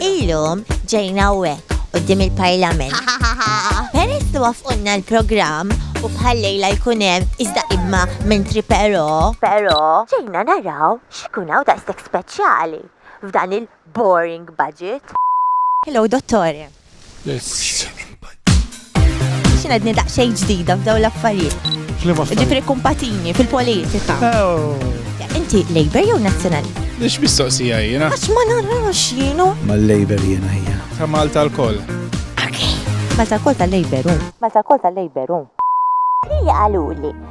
Illum ġejna hawnhekk qudiem il-Parlament. Peress li wafqunna l-programm u bħal-lejla jkun hemm iżda imma mentri però. Però ġejna naraw x'ikun hawn daqshekk speċjali f'dan il-boring budget. Hello, Dottore. Xina dni daqxej ġdida f'daw l-affarijiet. Ġifri kumpatini fil-politika. Oh. Inti Labour jew Nazzjonali? Nix mistoqsija jena. Għax ma narax jienu. Ma Labour jena jena. Ta' Malta l-koll. Malta l-koll ta' Labour. Malta l-koll ta' Labour. Li għaluli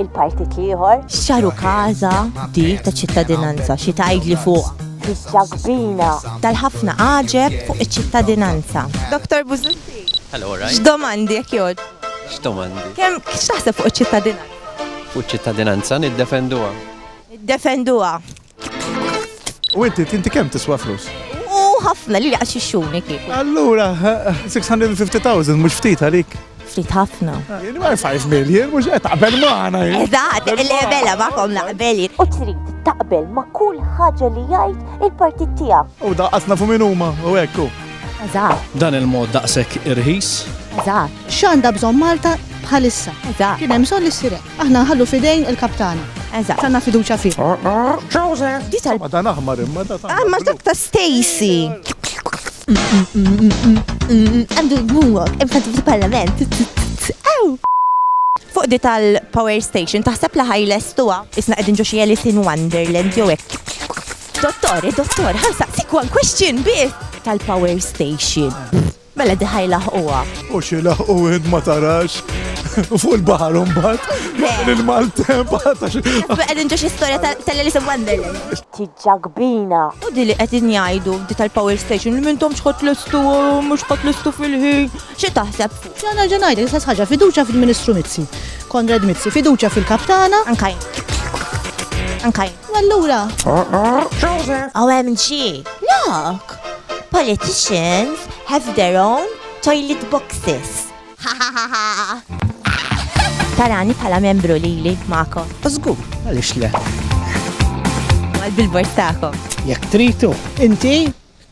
il-partit l-ieħor. Xaru kaza di ta' ċittadinanza xi tgħidli fuq. Biċċa kbina. Tal-ħafna għaġeb fuq iċ-ċittadinanza. Dr. Buzutti. Hello, right. X'domandi jekk jod? X'domandi? Kemm x'taħseb fuq iċ-ċittadinanza? Fuq iċ-ċittadinanza niddefenduha. Niddefenduha. U inti, inti kemm tiswa flus? U ħafna li għax ixxuni kif. Allura, 650,000 mhux ftit għalik. Ftit ħafna. Jien ma 5 million, mhux qed taqbel magħna. Eżatt, il-lebela magħkom naqbel. U trid taqbel ma' kull ħaġa li jgħid il-partit tiegħek. U daqqasna fu min huma, u hekk Eżatt. Dan il-mod daqshekk irħis. Eżatt. X'għandha bżonn Malta bħalissa. Eżatt. Kien hemm bżonn li ssirek. Aħna nħallu f'idejn il-Kap tagħna. Eżatt. Għandna fiduċja fih. Joseph! Di tal. Ma dan aħmar imma da ta'. Imma dak ta' Stacy. Għandu jgħumok, imma fil-parlament. Ew! Fuq di tal-power station, taħseb li ħajles tuwa. Isna qegħdin ġo xi Alice in Wonderland jew hekk. Dottor, eh, dottor, ħansaqsik one question bih tal-power station. Mela diħa jilaħquha. U xi laħqu int ma tarax. Fuq il-baħar mbagħad. Il-maltemp għatax. Qegħdin ġo xi storja tal-Alice in Wonderland. Tiġġa kbina. U di li qegħdin jgħidu di tal-power station li mintom xħot l-istu mhux ħot l-istu fil-ħin. Xi taħseb? Xana ġenajda, l-istess ħaġa fiduċa fil-Ministru Mizzi. Konrad Mizzi, fiduċa fil-kaptana. Ankajn. Ankajn. U allura? Joseph! OMG! Look! Politicians have their own toilet boxes. Ha ha ha ha! Tarani pala membru li li mako. Zgur, għalix le. Għal bil-bord taħkom. Jek tritu, inti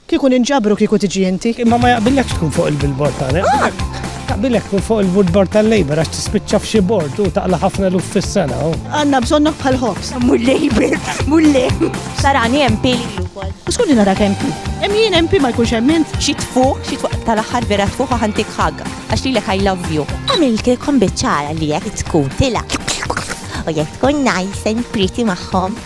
Kieku ninġabru kieku tiġi inti. Imma ma jaqbillekx tkun fuq il-billboard tagħna. Jaqbillek tkun fuq il-woodboard tal-Labour għax tispiċċa f'xi bord u taqla ħafna luf fis-sena. Għandna bżonnok bħal ħobs. Mur Labour, mur Labour. Sarani MP li wkoll. U skolli nara kemm pi. Hemm jien MP ma jkunx hemm int. Xi tfuq, xi tfuq tal-aħħar vera tfuq ħantik ħag. Għax lilek I love you. Għamiltilkom biċċara li jekk tkun tila. U jekk tkun nice and pretty magħhom.